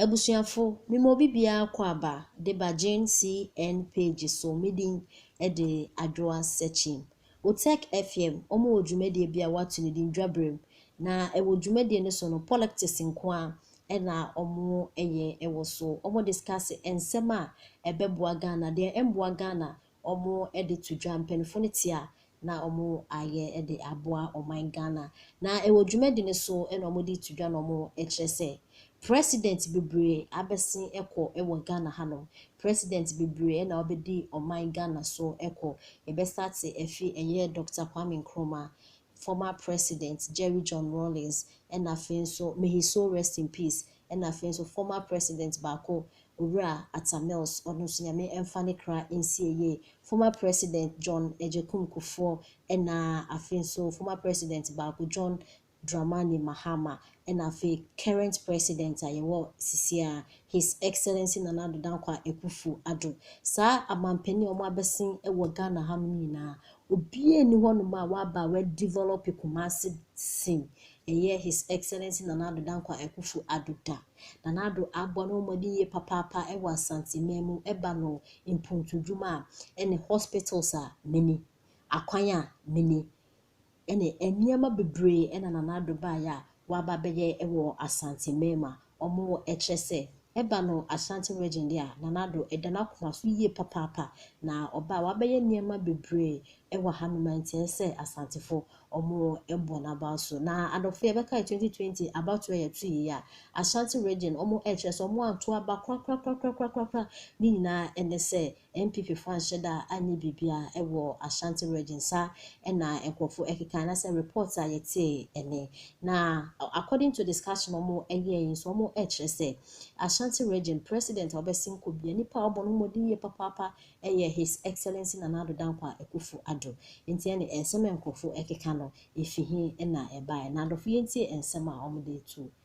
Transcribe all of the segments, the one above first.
Abusuafo, mema obi biara kɔ aba de ba GNCN page so, me din de Adwoa Sekyim. Utech FM, wɔn wɔ dwumadie bi a wɔato no din Dwaberem, na ɛwɔ dwumadie no so no politics nko ara na wɔyɛ wɔ so. Wɔn discuss nsɛm a ɛbɛboa Ghana, deɛ ɛmmoa Ghana wɔde to dwa, mpanyinfoɔ no te a na wɔayɛ de aboa ɔman Ghana. Na ɛwɔ dwumadi no so na wɔde reto dwa na wɔrekyerɛ sɛ President bebree abɛsen kɔ wɔ Ghana hanom. President bebree na wɔbɛdi ɔman Ghana so kɔ. Yɛbɛ starte afi ɛyɛ Doctor Kwame Nkrumah, former president Jerry John Rawlings ɛna afei nso may his soul rest in peace ɛna afei nso former president baako Owura Atta Mills ɔno nso Nyame ɛnfa ne kra nsi ayie former president John Agyekum Kufuor ɛna afei nso former president baako John Dramani Mahama ɛna afei current president a yɛwɔ sisi a his excellency Nana Addo Dankwa Akuffo Addo saa amanpanin a wɔn abɛsen wɔ Ghana ha nom nyinaa Obiara nni hɔnom a waba a wadevelop Kumasi sen ɛyɛ His Excellency Nana Addo Dankwa Akufo Addo da. Nana Addo abɔ ne ho mmɔden yie papaapa wɔ Asanteman mu, ɛba no mpontodwuma a, ɛne hospitals a, me ni, akwan a, me ni, ɛne nneɛma bebree na Nana Addo baeɛ a waba abɛyɛ wɔ Asanteman mu a, Ɔmo wɔ ɛkyerɛ sɛ ɛba no Ashanti region deɛ a Nana Addo ɛda n'akoma so yie papaapa na ɔba a wabɛyɛ nneɛma bebree ɛwɔ ha nom ɛnteɛ sɛ Asantefo ɔmo ɛbɔ n'abaw so na adɔfo yɛbɛkae 2020 abatoɔ a yɛto yei a Ashanti region ɔmo ɛkyerɛ sɛ ɔmo anto aba korakorakorakorakorakora ne nyinaa ɛne sɛ NPP fo anhyɛ da anyɛ biribiara wɔ Ashanti region sa na nkorɔfo keka anasɛ report a yɛtee ne. Na according to discussion a wɔn yɛɛ yi nso wɔn kyerɛ sɛ Ashanti region president a ɔbɛsen kɔ bia nipa a ɔbɔ no ho mmɔden yie papaapa yɛ His Excellency Nana Addo Dankwa Akuffo Addo. Nti ɛne nsɛm a nkorɔfo keka no efi he na ɛbaeɛ? Na adɔfo yɛntie nsɛm a wɔn de to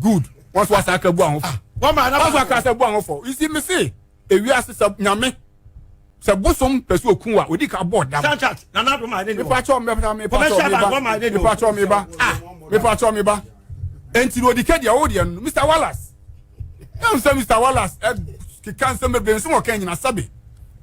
good wọn so asa aka bu ahofo ah, wọn so aka asa bu ahofo you see me say ewi ase sɛ nyame sɛ bosom pɛ so okun wa odi ka bɔ dam. sanchat nana do maa ne ni wɔ. mepatɔ mepatɔ mepatɔ mepatɔ meba ah mepatɔ meba nti na odi kɛdeɛ ɔwɔ deɛ no mr wallace ɛn sɛ mr wallace ɛ keka nsɛm bebree nsɛm ɔka nyina sabi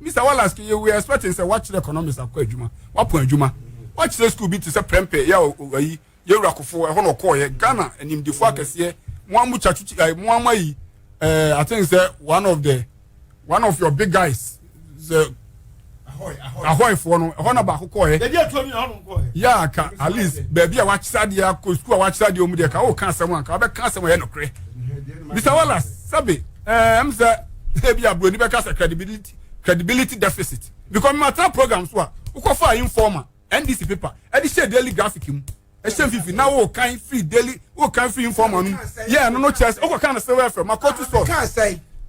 mr wallace keye we expecting sɛ wakyerɛ economics akɔ adwuma wapɔn adwuma wakyerɛ school bi te sɛ prɛmpɛ yɛ ɔyi Yewura Kufuor, ɛhɔ na ɔkɔɔyɛ. Ghana animdefo akɛseɛ, mo a mo twa twitwi, ɛɛ mo a mo ayi, ɛɛ I think sɛ one of the one of your big guys, sɛ ahɔɛfoɔ no, ɛhɔ na baako kɔɔyɛ. Yɛde atuo no yɛ hɔ nom kɔɔyɛ. Yaa ka at least baabi a wakyerɛ adeɛ akɔ sukuu a wakyerɛ adeɛ wɔn deɛ ka ɔka asɛm anka ɔbɛka asɛm a ɛyɛ nokorɛ. Mr. Wallace, sɛbe ɛɛ ɛm sɛ ebi aburoni bɛka sɛ credibility credibility deficit because mma tra program so a wokɔfa informer. NDC paper ɛde hyɛ daily graphic mu ɛhyɛ mfifi na wo kan free daily wo kan free informer no yɛ ɛno no kyerɛ sɛ wokɔ kan na sɛ wɔ ɛfɛ ma kɔtu sɔ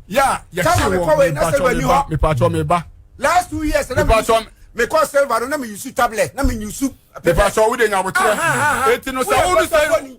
yɛ a yɛkye wɔ mepatwɔ meba mepatwɔ meba last two years na mepatwɔ mekɔ silver no na meyusu tablet na menyusu mepatwɔ wode nyaboterɛ eti no sɛ wo no sɛ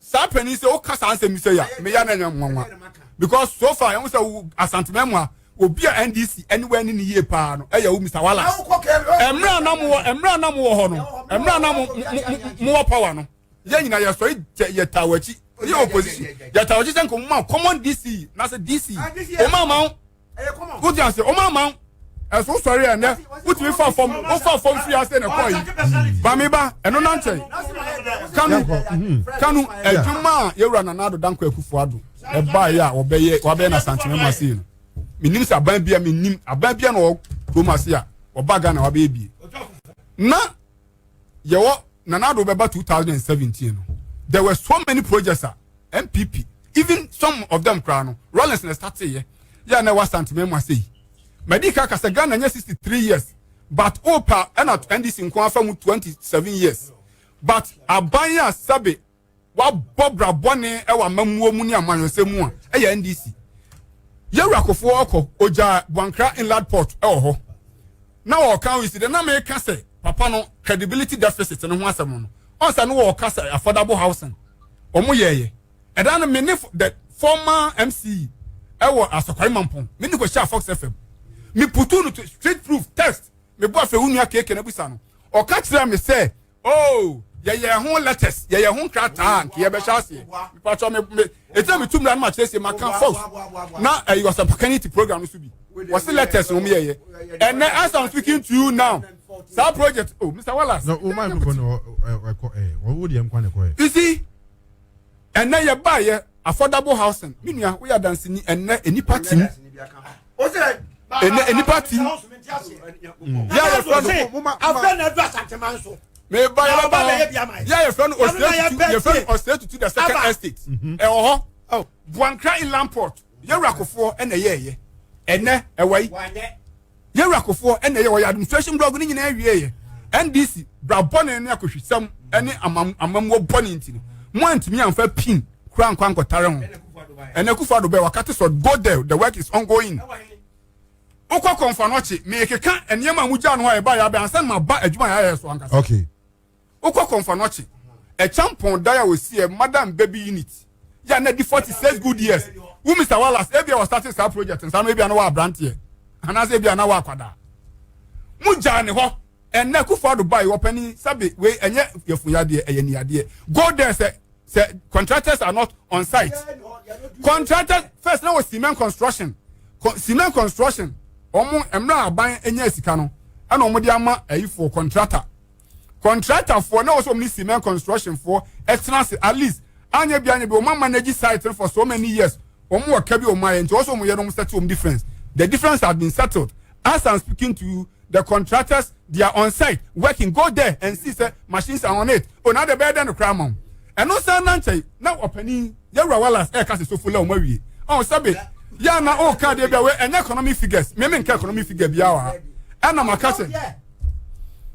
Saa panyin sɛ woka saa nsɛm sɛ ya meya na nya nwanwa because so far ɛho sɛ wo asantuma mu a obi a ndc ɛne wɔ ɛne ne yie paa no ɛyɛ wo mr wallace ɛmmerɛ anam wɔ ɛmmerɛ anam wɔ hɔ no ɛmmerɛ anam mo wɔ power no yɛn nyinaa yɛ sɔre yɛ taa wɔ akyi yɛ opposition yɛ taa wɔ akyi sɛ nkɔmɔ common dc na sɛ dc ɔmo ama wote ase wɔn ama wo ɛso sɔre a ɛnɛ wotumi fa fam wofa fam firi ase na ɛkɔ yi bami ba ɛno nankyɛn kanu kanu adwuma a yɛwura nana ado danko akufo ado ɛbaa yɛ a wɔbɛyɛ wɔabɛyɛ na santene mu ase no menim sɛ aban bia menim aban bia na ɔkurom ase a ɔba ghana wɔabɛyɛ bie na yɛwɔ Nana Addo bɛba 2017 no there were so many projects a MPP even some of them koraa no Rollins na start yɛ yɛ na ɛwɔ Asante mɛmu ase yi mɛdi ka kasa Ghana nyɛ 63 years but opa ɛna NDC nko afa mu 27 years but aban a sɛbe wabɔ bra bɔne wɔ amammuo mu ne amanyɔsɛm mu a ɛyɛ ndc yɛwura kofoɔ ɔkɔ ogyaa buankra inland port wɔ hɔ na ɔka oyi si dɛ na meka sɛ papa no credibility deficit no ho asɛm no ɔnsa no wɔka sɛ affordable housing wɔn yɛɛyɛ ɛda no me ne the former mc ɛwɔ asɔkwari mampɔn me ne kɔ hyɛ fox fm me putu no to street proof test me bɔ afɛ wo nua keke na busa no ɔka kyerɛ me sɛ Oh, yɛyɛ ho letters, yɛyɛ ho nkrataa a nka yɛbɛhyɛ aseɛ. Mepatɔ me me ɛtina metu mmira no ma kyerɛ sɛ maka fos na ɛyɛ eh, ɔsɛmpaka ne ti program no so bi. Wɔse letters no meyɛyɛ. Ɛnɛ as I'm speaking to you now, saa project oh Mr. Wallace. No, o oh, microphone wɔ ɛkɔ ɛ, wɔn wo deɛ nkwa na ɛkɔ ɛ. You see. ɛnɛ yɛ baayɛ affordable housing me nua woyɛ adanseni ɛnɛ nnipa tim ɛnɛ nnipa tim yɛ a yɛfrɛ no meba yɛbɛba hɔ yɛ a yɛfrɛ no ɔsrɛ tutu yɛfrɛ no ɔsrɛ tutu the second estate mhm. ɛwɔ hɔ oh, buankra inland port yɛwura kofoɔ ɛna yɛɛyɛ ɛnɛ ɛwɔ yi Yewura Kufuor na ɛyɛ ɔyɛ administration blog ne nyinaa wie yɛ. NDC, bra bɔne ne akɔhwisɛm ne amammuo bɔne nti no, mo antumi amfa pin kura nkɔ ankɔtare ho. Ɛnɛ Kufuor Addo bɛɛ wakate sɔ, go there, the work is ongoing. Wokɔ kɔnfa no ɔkye, mekeka nneɛma a mogyaa no hɔ a ɛbaa yɛ abɛn ansa na maba adwuma yɛ ayɛ so ankasa. Okay. wokɔ kɔnfanɔkye ɛkyampɔn dan a wɔsiɛ madam baby unit yɛ a na di forty six good years wo mr wallace ebi a wɔsate saa project nsa no ebi a na wɔ aberanteɛ anaasɛ ebi a na wɔ akwadaa mo gyaa ne hɔ ɛnna kufu ado ba yi wɔpɛni sabi wei ɛnyɛ yɛfunyadeɛ ɛyɛ niadeɛ go there sɛ sɛ contractors are not on site contractors first na wɔ cement construction cement construction wɔn mmerɛ aban nya sika no ɛna wɔn de ama ɛyifoɔ contractor. Contractorfoɔ na ɛwɔ sɛ wɔn ne cement constructionfoɔ ɛtena ase at least anyɛ bi anyɛ bi wɔn manage site no for so many years wɔn wɔ ka bi wɔn ayɛ nti wɔn sɛ wɔn yɛ no wɔn settle wɔn difference the difference has been settled as i'm speaking to you the contractors they are on site working go there and see sɛ machines are on it o na de bɛyɛ dɛ no kora ama wɔn ɛno san na nkyɛn na ɔpanin yɛwura walas ɛka sɛ sofo la wɔn awie ɔn sɛbe yɛn na ɔka deɛ bi a wɔ ɛnyɛ economic figures mɛmɛ nka economic figure bi a wɔ ha ɛna maka sɛ.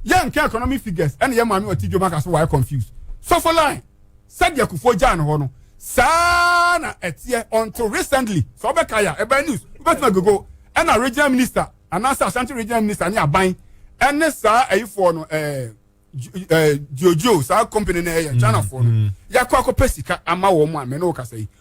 yɛn nka economic figures ɛna yɛn maame ɔte dwom aka so wayɛ confused sɔfo line sɛdeɛ akufoɔ gyaa ne hɔ no saa na ɛteɛ until recently sɛ ɔbɛka yɛ a ɛbɛn news wobɛtumi agogo ɛna regional minister anaasɛ asante regional minister ne aban ɛne saa ɛyifoɔ no ɛɛ ɛɛ jojo saa company no ɛyɛ mm, chinafoɔ no mm. yɛakɔ akɔpɛ sika ama wɔn a mɛ ne wo kasa yi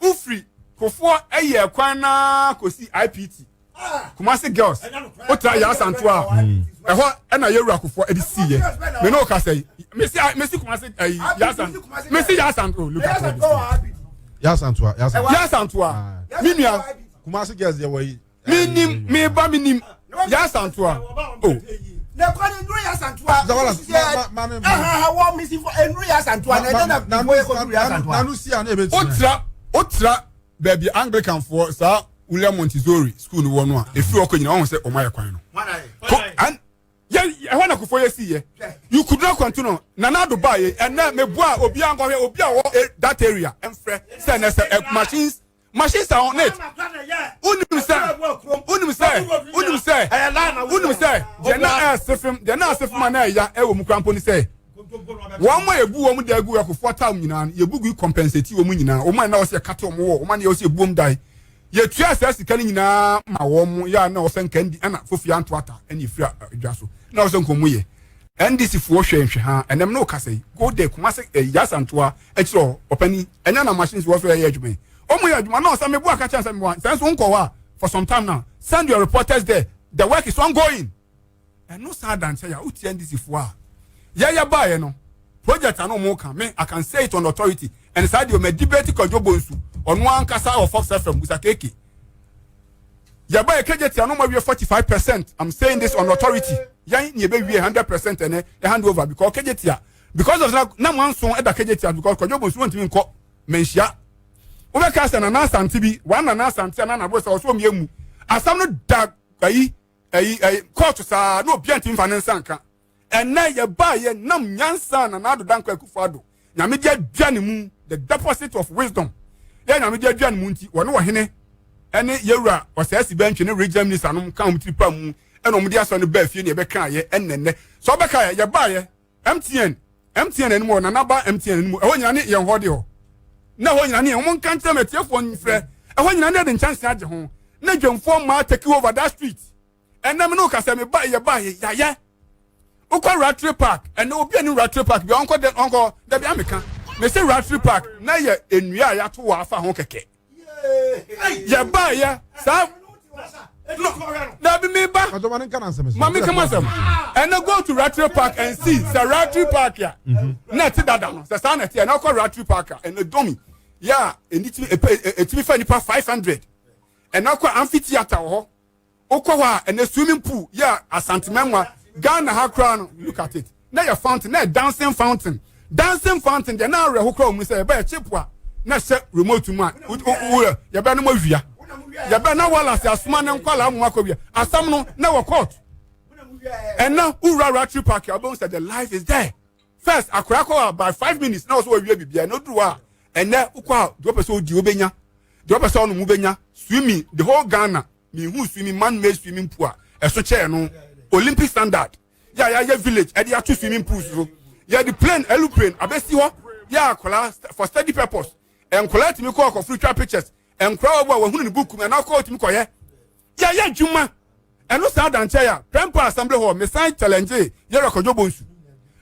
wofiri kofoɔ ɛyɛ kwan naa kɔsi ipt kumase girls wotra yɛ asanto a ɛhɔ ɛna yɛwura kofoɔ ɛde si yɛ me ne wo kasa yi mesi mesi kumase ɛyi yɛ asanto mesi yɛ asanto look at all this yɛ asanto a yɛ asanto a me nua kumase girls yɛ wɔ yi. menim meba menim yɛasantoa o lẹkọni nuru yasantua baabi anglican foɔ saa wúlẹ̀ montessori school ni wọ́n no a efiri ọkọ nyina ọ̀hún sẹ́ ọmọ ayẹ kwan no ɛhɔ na kofo yɛ si yɛ yukudura kwantu no nana ado baa yɛ ɛnna mɛ bu a obi ankɔhwɛ obi a ɔwɔ eh, that area ɛnfrɛ sɛ ɛnɛ sɛ eh, machines. machine sa ho net wonim sɛ wonim sɛ wonim sɛ wonim sɛ deɛ na ɛɛse fam deɛ na ɛɛse fam a na ɛya ɛwɔ mu kura mpo ne sɛ wɔn a ebu wɔn da egu ɛkofoɔ taa wɔn nyinaa yɛbu gu compensate wɔn nyinaa wɔn a na wɔsi ɛkata wɔn wɔ wɔn a na wɔsi ebu wɔn dan yɛtua saa sika no nyinaa ma wɔn yɛ a na wɔsɛ nka ndi ɛna fofi anto ata ɛna efiri adwa so na wɔsɛ nka wɔn yɛ ndc foɔ hwɛ nhwɛ ha ɛnam na ɔkasa yi go there kumase ɛyasa ntoa. akyire hɔ ɔpani ɛnyɛ na machines wɔ so ɛyɛ adwuma yi ɔmo yɛ adwuma na ɔsɛ mebo aka kyɛn sɛ mebo a sɛ nso nkɔ hɔ a for some time now send your reporters there the work is ongoing ɛno saa adankyɛ yɛ a wotia ndc foɔ a yɛyɛ baeɛ no project ano ɔmo ka me I can say it on authority ɛne saa deɛ ɔmo debate kwadwo bɔ nsu ɔno ankasa wɔ fox fm busa keke yɛba yɛ kegye tia no ma wie forty five percent I'm saying this on authority yɛn ni ebe wie hundred percent ɛnɛ yɛ hand over because kegye tia. because of that na mo anso ɛda kagye tia because kwadwo bɔ nsuo ntumi nkɔ manhyia wobɛka sɛ nana asante bi wɔn nana asante a nana abosa ɔsɔ omi emu asam no da ayi ayi ayi kɔɔto saa na obi antumi fa ne nsa nka ɛnna yɛ ba yɛ nam nyansa na n'ado da nkɔ akufo ado nyame de adua ne mu the deposit of wisdom yɛ nyame de adua ne mu nti wɔne wɔ hene ɛne yɛwura ɔsɛɛsi bɛntwe ne regional minister nom ka wɔn tiri pa mu ɛna wɔn de asɔ ne baa fie ne ɛbɛka yɛ ɛnnɛnnɛ sɛ ɔbɛka yɛ yɛ ba yɛ. mtn mtn anim wɔ nana ba mtn anim ɛhɔ nyina ne yɛn hɔ de hɔ na ɛhɔ nyina ne yɛn wɔn nka nkyɛn mu atiefoɔ nfrɛ ɛhɔ nyina ne yɛde nkyɛnse agye ho na dwamfoɔ mmaa take over that street ɛnna mi ne okasa mi ba yɛ ba yɛ yayɛ wokɔ ratri park ɛnna obi a ne ratri park bi ɔnkɔ dɛ ɔnkɔ dɛbi ameka mesi ratri park na yɛ nnua a yɛato wɔ afa ho kɛkɛ. yɛbaeɛ saa dabi mi ba maame kama sɛm ɛnɛ go to ratri park and see sɛ ratri park a mhm. na ɛte dada no sɛ saa na ɛte ɛnɛ ɔkɔ ratri park a ɛnɛ dɔmi yɛ a ɛtumi fa nipa five hundred ɛnɛ ɔkɔ amphitheatre wɔ hɔ. Wokɔ hɔ a, ɛnɛ swimming pool yɛ a Asantemɛnwa, Ghana ha koraa no, look at it. Na yɛ fountain, na yɛ dancing fountain. Dancing fountain deɛ na awerɛho koraa wɔ mu sɛ yɛbɛ yɛ chip a na hyɛ remote mu a wura yɛbɛ no mɔwia. Yɛbɛ na Wallace asoma ne nkwalaa mu akɔwia. Asɛm no na wɔ court. Ɛnɛ wura Ratri Park a wobɛhu sɛ the life is there. First, akora kɔ a by five minutes na wɔ so wɔwia biribiara na oduru a ɛnɛ wokɔ a deɛ wopɛ sɛ wodi wobɛnya. Deɛ wopɛ sɛ ɔnom wobɛnya. Swimming, the whole Ghana mehuu swimming man made swimming pool a ɛso kyɛɛ no olympic standard yɛ a yɛayɛ village ɛde ato swimming pools so yɛde plane aeroplane abɛsi hɔ yɛ akwadaa for study purpose nkwadaa tumi kɔ akɔforo twa pictures nkwadaa wɔ a wɔhunu ne buku mu ɛna akɔ tumi kɔyɛ yɛyɛ adwuma ɛno saa adankyɛ yɛ a prɛmpa assembly hall mesan challenge yɛ rekɔdwo bonsu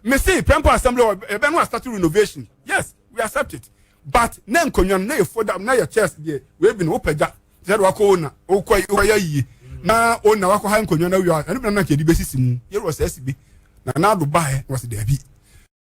mese prɛmpa assembly hall ɛbɛ no asate renovation yes we accept it but na nkonnwa no na yɛ foda na yɛ chairs deɛ wei bi no wopagya Sɛ ɛde wakɔ Ona, wokɔ yi, wayɛ yie, na Ona wakɔ ha nkonnwa na awie a, ɛno bɛnam na nka yɛde bɛsisi mu, yɛrewɔ saa si bi. Na Nado baeɛ na wɔsi daabi.